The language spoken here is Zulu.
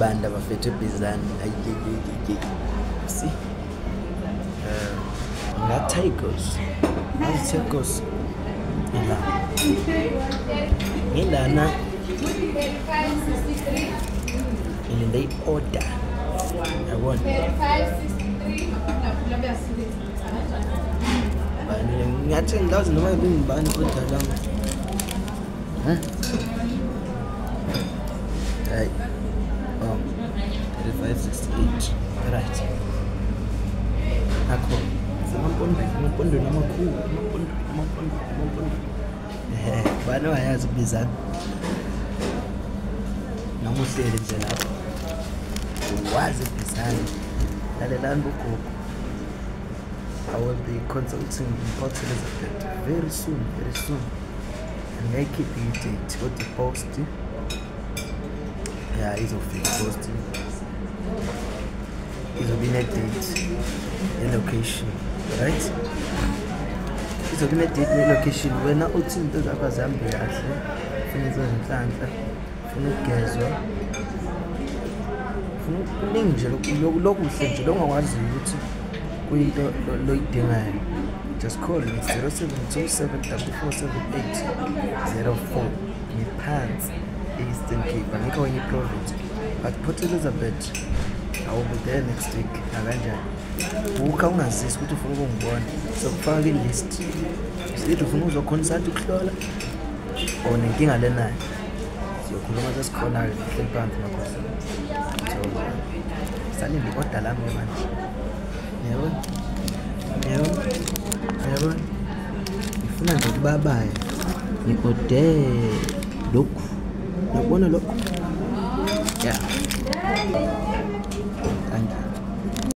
abantu abafethu ebhizani si eh, ngatigos ngatigos la ngilana ngilinde i-order yabona ngathi ngazi noma bengibani kodwa lama Hmm? Hey. Oh. 3568. Right. Akho. Samapondo, amapondo namakhulu, amapondo, amapondo, amapondo. Eh, bani wayazi kubizana? Noma uhleli nje lapho. Wazi kubizana. Lalelani bugogo. I will be consulting in Port Elizabeth very soon, very soon. ngeke i-date kodwa i-post ya izofika i-post izobe ine-date ne-location right izobe ine-date ne-location wena uthi into zakho azihambe kahle funa izo zinhlanhla funa ukugezwa kuningi nje lokuhle nje lokungakwaziyo ukuthi kuyinto loyidingayo just call me 0727 447804 ngiphansi e-eastern cape angikho kwenye iprovince but port elizabeth i will be there next week nakanjani bukha ungazisi ukuthi ufuna ukungibona sokufaka kwilist sithi ufuna uzokhona isathi ukuhlola or nenkinga lenayo siyokhuluma sesikhona-ke sihleli phansi makhosi so salinde i-oda lami-ke manje yebo yebo yebo ngifuna nje ukubabaye ngi-ode lokhu nakubona lokhu ya yeah.